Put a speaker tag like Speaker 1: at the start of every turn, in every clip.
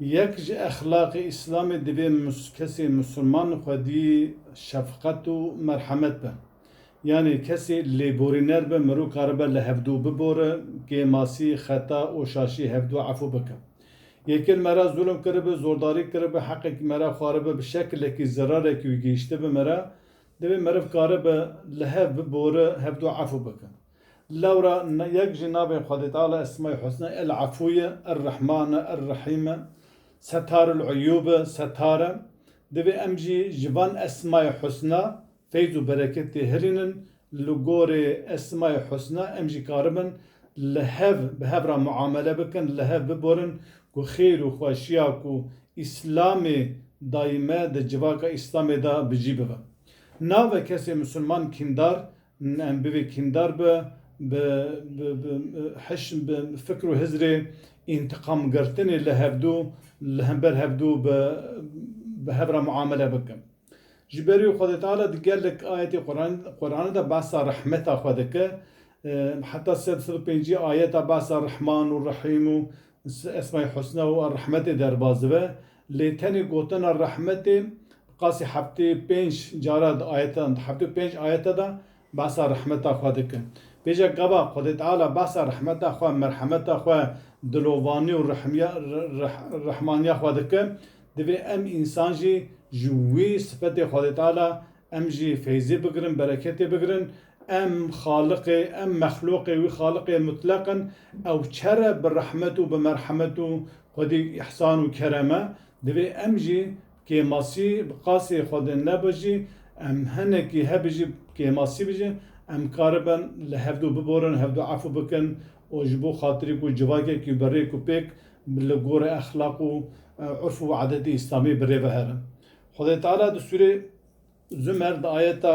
Speaker 1: Yek ji exlaqê Îslamê divê kesê Misliman xwedî şefqet û merhemet be. Yanê kesê lêborîner be mirov karibe li hevdû bibore, kêmasî, xeta û şaşî hevdû efû bike. Yekên me re zulm kiribe, zordarî kiribe, heqekî me re xwaribe, bi şekilekî zerarekî wî gihîştibe me re, divê meriv karibe li hev bibore, hevdû efû bike. Lewra yek jî navên Xwedê Teala Esma-i Husna El Efû ye, Er Rehman e, Er Rehîm e, Setarul Uyûb e, Settar e. Divê em jî ji van Esma-i Husna feyz û bereket tê hilînin. Li gorî Esma-i Husna em jî karibin li hev bi hev re muamele bikin, li hev biborin ku xêr û xweşiya ku Îslamê dayî me di civaka Îslamê de bi jî bibe. Navê kesê Misliman kîndar Em bivê kîndar bi bi bi bi hiş bi fikr û hizrê întiqam girtinê li hevdû li hember hevdû bi bi hev re muamele bikin. Ji berî Xwedê Teala di gelek ayetê Qur'anê de behsa rehmeta xwe dike, heta sed sed û pêncî ayeta behsa Rehman û Rehîm û Esma-i Husna û Er-Rehmetê derbas dibe. Lê tenê gotina rehmetê qasî heftê û pênc cara di ayetedan di heftê û pênc ayete de behsa rehmeta xwe dike. Pêşek gava Xwedê Teala behsa rehmeta xwe, merhemeta xwe, dilovanî û rehmiya rehmaniya xwe dike, divê em însan jî ji wî sifetê Xwedê Teala em jî feyzê bigirin, bereketê bigirin, Em Xaliqê, em mexluqê wî Xaliqê mutlaq in, ew çer e bi rehmet û bi merhemet û xwedî îhsan û kerem e, divê em jî bi kêmasî bi qasê xwe de nebe jî em hinekî hebî jî bi kêmasî bijîn, em karibin li hevdu biborin, hevdu efû bikin û ji bo xatirî ku civakekî bi rêk û pêk li gorî exlaq û urf û edetê îslamî bi rê ve herin. Xwedê Teala di sûrê Zümer di ayeta.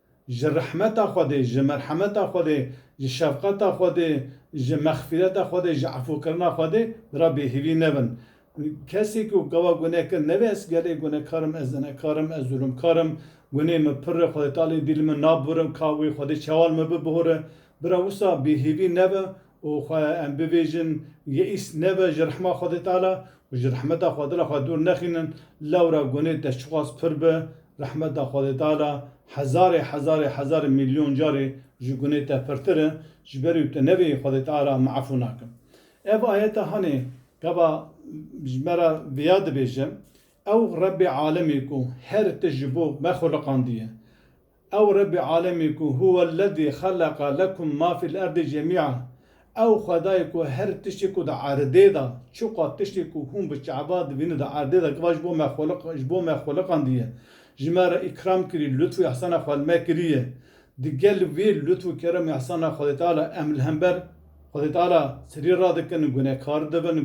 Speaker 1: Ji rehmeta Xwedê, ji merhemeta Xwedê, ji şefqeta Xwedê, ji mexfîreta Xwedê, ji efûkirina Xwedê ra bêhîvî nebin. Kesê ku gava guneh kir nevê ez gelê gunehkar im, ez zenekar im, ez zulumkar im, gunehê min pirr e, Xwedê Tealeyê dî li min nabibirim, ka wê Xwedê çawa li min bibihore. Bira wisa bêhîvî nebe û xwe em bibêjin, Yeîs nebe ji rehma Xwedê Teala û ji rehmeta xwe dila xwe dûr nexînin, lewra gunê te çiqas pir bi, rehmeta Xwedê Teala hezarê hezarê hezarê mîlyon carî ji gunê te pirtir e, ji ber û tu nebêyî Xwedê Teala me efû nake. Ev ayeta hanê gava ji me re vêya dibêje, Ew Rebbê Alemê ku her tişt ji bo me xweliqandiye, Ew Rebbê Alemî ku Huwellezî xeleqa lekum ma fil erdî cemî'an, ew Xwedayê ku her tiştî ku di erdê de, çiqas tiştî ku hûn bi çaba dibînin di erdê de giva ji bo me xweliq ji bo me xweliqandiye, ji me re îkram kirî, lutf û îhsana xwe li me kiriye. Di gel vê lutf û kerem û îhsana Xwedê Teala em li hember Xwedê Teala sirî radikin, gunekar dibin,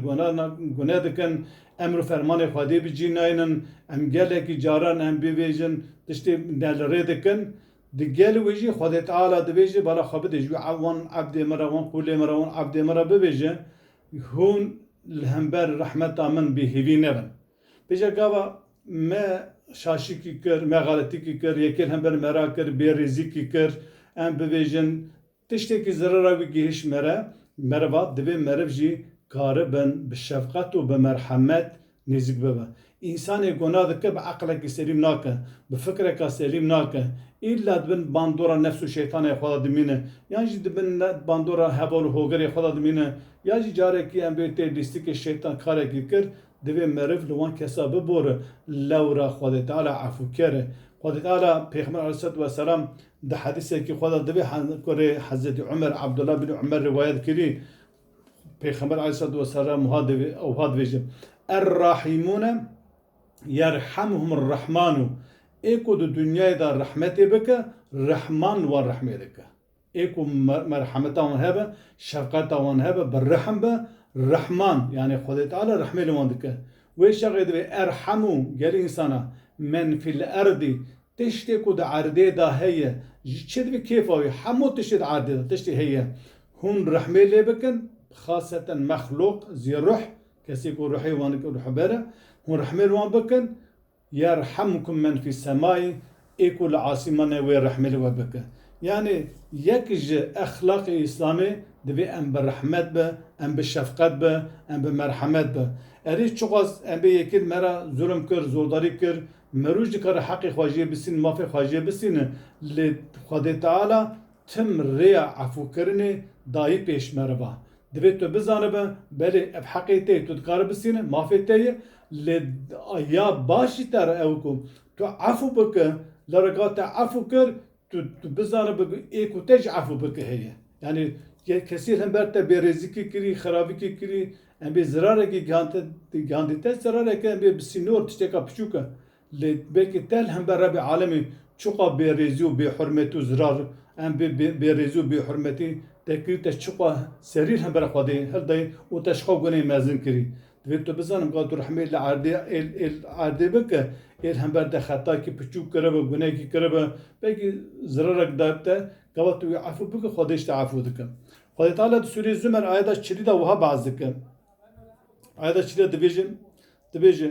Speaker 1: guneh dikin, Emr û fermanê Xwedê bi cî nayînin, em gelekî caran em bivêjin, tiştê ne li rê dikin, di gel wê jî Xwedê Teala dibêje, bala xwe bide ji wî, wan ebdê min re, wan qûlê min re, wan ebdê min re bibêje, hûn li hember rehmeta min bê hêvî nebin. Bêje gava me şaşîkî kir, me xeletîkî kir, yekê li hember me re kir, bêrêzîkî kir, em bivêjin, Tiştekî zerera wî gihîşt me re, meriv hat divê meriv jî karibin bi şefqet û bi merhemet nêzik bibe. Însanê gona dike bi eqlekî selîm nake, bi fikreka selîm nake. Îlla di bin bandora nefs û şeytanê xwe de dimîne yan jî di bin bandora heval û hogerê xwe de dimîne ya jî carekî em bê tê lîstikê şeytan karekî kir divê meriv li wan kesa bibore lewra Xwedê Teala efûker e. Xwedê Teala Pêxember Aleyhîsselatu Weselam Di hedisekî xwe de divê ku rê Hezretî Umer, Abdullah bin Umer rivayet kirî, Pêxember aleyhissalatu vesselam wiha dibêje, Er-Rahîmûne yerhemhumur Rahmanu, ê ku di dinyayê de rehmetê bike, Rehman li wan rehmê dike. Ê ku merhemeta wan hebe, şefqeta wan hebe, bi rehm be, Rehman, yanê Xwedê Teala rehmê li wan dike. Wê şerê divê erhemû gelî însana, men fî l-erdî, tiştê ku di erdê de heye, ji çi divê kêfa wî, hemû tiştê di erdê de tiştê heye, hûn rehmê lê bikin, bi xaseten mexlûq, zî ruh, kesê ku ruhê wan ruhber e, hûn rehmê li wan bikin, Yerhamukum men fî semayî, ê ku li asîmanê wê rehmê li we bike. Yanê yek ji exlaqê Îslamê divê em bi rehmet be, em bi şefqet be, em bi merhemet be. Erê çiqas embê yekîn me re zulm kir, zordarî kir, mirûj dikare heqê xwe jê bisînin, mafê xwe jê bisînin lê Xwedê Teala Tim rêya efûkirinê dayî pêş meriva. Divê tu bizanibe, belê ev heqê te ye, tu dikare bisîne, mafê te ye, lê ya baş jî te re ew e ku tu efû bike, lere ka te efû kir, tu tu bizanibe ku ê ku te jî efû bike heye. Yanî kesî li hember te bêrêzîkî kirî, xerabîkî kirî, em bê zirarekî gihandî te, zirareke em bê bi sînor tişteka piçûk e. Lê belkî te li hember Rebî Alemî çiqas bêrêzî û bêhurmetî û zirar em vê bêrêzî û bêhurmetî te kirî û te çiqas serî li hember Xwedê hildayî û te ji xwe guneyê mezin kirî. Divê tu bizan ka tu rehmê li erdê ê li erdê bike ê li hember te xetakî piçûk kiribe, gunehekî kiribe, belkî zirarek daybe te gava tu wî efû bike Xwedê ji te efû dike. Xwedê Teala di Sûreyê Zûmer ayeta çilî de wiha behs dike. Ayeta çilî de dibêje, dibêje,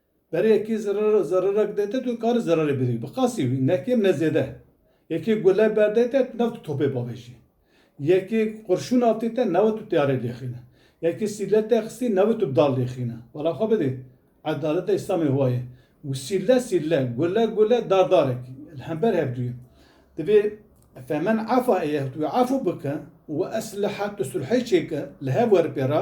Speaker 1: Berê yekê zerere zererek dayte tu karî zererê bidî. Bi qasî wî ne kêm ne zêde. Yekê gule berdayte tu newt tu topê bavêjî. Yekê qurşûn avtîte newt tu teyarê lêxîne. Yekê sîle te xistî newt tu dal lêxîne. Bala xwe bidî. Edaleta Îslamê wa ye. Sîle sîle, gule gule, dar darek li hember hevdû ye. Divê Femen efa êyeh tu wê efû bike û esliha tu sulhê çêke li hev were pê re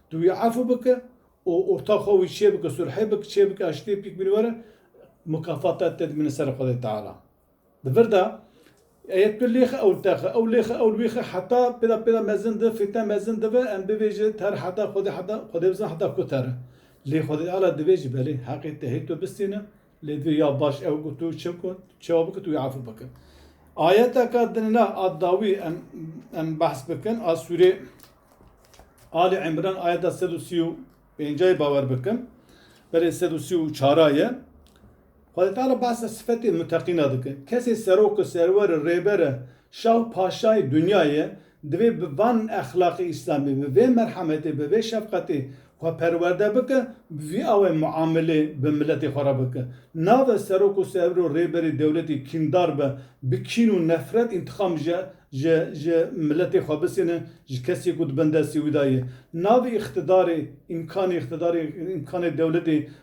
Speaker 1: Tu wî efû bike û orta xwe wî çêbike, sulhê bike, çêbike aştiyê pîk bîne were, mukafata te dimîne ser Xwedê Teala. Di vir de eya tu lêxe ewl texe, ew lêxe ewl wêxe heta pêda pêda mezin dibe, fitne mezin dibe, em bivêje ter heta Xwedê heta Xwedê bizana heta ku ter e. Lê Xwedê Teala divêje belê heqê te hê tu bistîne, Lê tu ya baş ew ku tu çi ku çewa bike tu wî efû bike. Ayeteke din na a dawî em em behs bikin a sûrê Ali Imran ayeta sed û sî û pêncayê bawer bikin. Belê sed û sî û çara ye. Xwedê teala behsa sifetê muteqîna dike. Kesê serok e, serwer e, rêber e, şah û paşayê dunyayê ye. Divê bi van exlaqê îslamî, bi vê merhametê, bi vê şefqetê xwe perwerde bike, bi vî awê muamelê bi miletê xwe re bike. Nabe serok û serwir û rêberê dewletê kîndar be, bi kîn û nefret întîqam ji ji ji miletê xwe bisêne, ji kesê ku di bin destê wî de ye. Nabê îqtîdarê, îmkanê îqtîdarê, îmkanê dewletê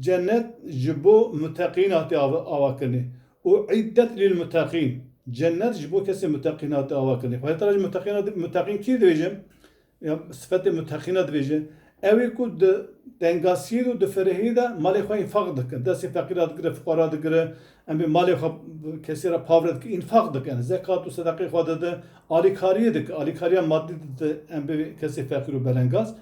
Speaker 1: Cennet ji bo muteqîn hatiye avakirinê û îddet lîlmuteqîn, Cennet ji bo kesên muteqîn hatiye avakirinê. Xwedê Teala jî muteqîna dibêje, muteqîn kî dibêje? Ya sifetê muteqîna dibêje, ew ê ku di tengasiyê de û di ferehiyê de malê xwe înfaq dikin, destê feqîran digire, fuqaran digire, em ê malê xwe kesê re pavre dikin, înfaq dikin, zekat û sedeqeyê xwe didin, alîkariyê dikin, alîkariya madî didin em bi kesê feqîr û belengaz.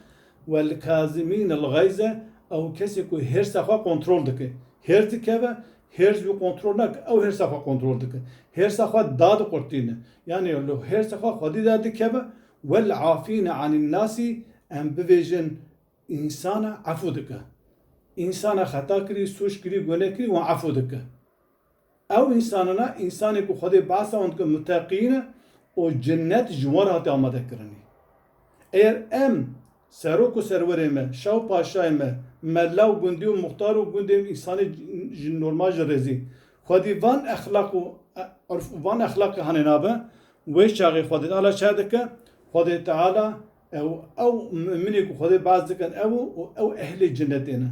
Speaker 1: Welkazimîn el-Gayz e, ew kesê ku hêrsa xwe kontrol dike. Hêrs dikeve, hêrs wî kontrol nake, ew hêrsa xwe kontrol dike. Hêrsa xwe dadiqurtîne. Yanî li hêrsa xwe xwedî de dikeve, Wel'afîne anîn-nasî, em bibêjin însanan efû dike. Însanan xeta kirî, sûc kirî, gune kirî wan efû dike. Ew însan e, însanê ku Xwedê behsa wan dike muteqîn e û cinet ji wan re hate amadekirinî. Eger em, serok û serwerê me, şah û paşayê me, mella û gundî û muxtar û gundên însanê ji normal ji rêzî, Xwedî van exlaq û urf û van exlaqê hanê navbe, wê çaxê Xwedê ala çaye dike, Xwedê Teala Ew ew muminê ku Xwedê baz dikin ew û ew ehlê cenetê ne.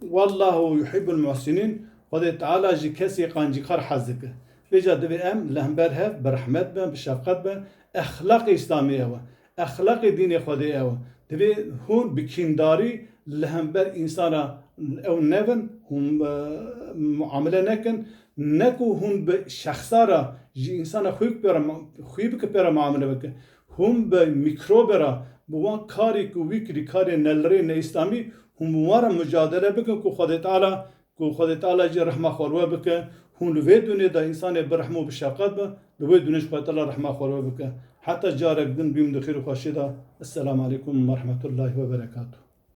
Speaker 1: Wallahu yuhîbul muhsînîn, Xwedê Teala ji kesê qancîkar hez dike. Lê ca divê em li hember hev bi rehmet bin, bi şefqet bin. Exlaqê Îslamê ew e. Exlaqê dînê Xwedê ew e. Divê hûn bi kîndarî li hember însan re ew nebin, hûn muamele nekin. Ne ku hûn bi şexsa re, ji însana xwî bi xwî bike pê re muamele bike. Hûn bi mîkrobe re, bi wan karî ku wî kirî karê nelirê neîslamî, hûn bi wan re mucadele bikin ku Xwedê Teala ku Xwedê Teala jî rehma xwe li we bike, hûn li vê dûnê de însanê bi rehm û bi şefqet bin, li wê dûnê jî Xwedê Teala rehma xwe li we bike. Heta carek din bîm di xêr û xweşiyê de. Esselam aleykum werehmetullahî weberekatû.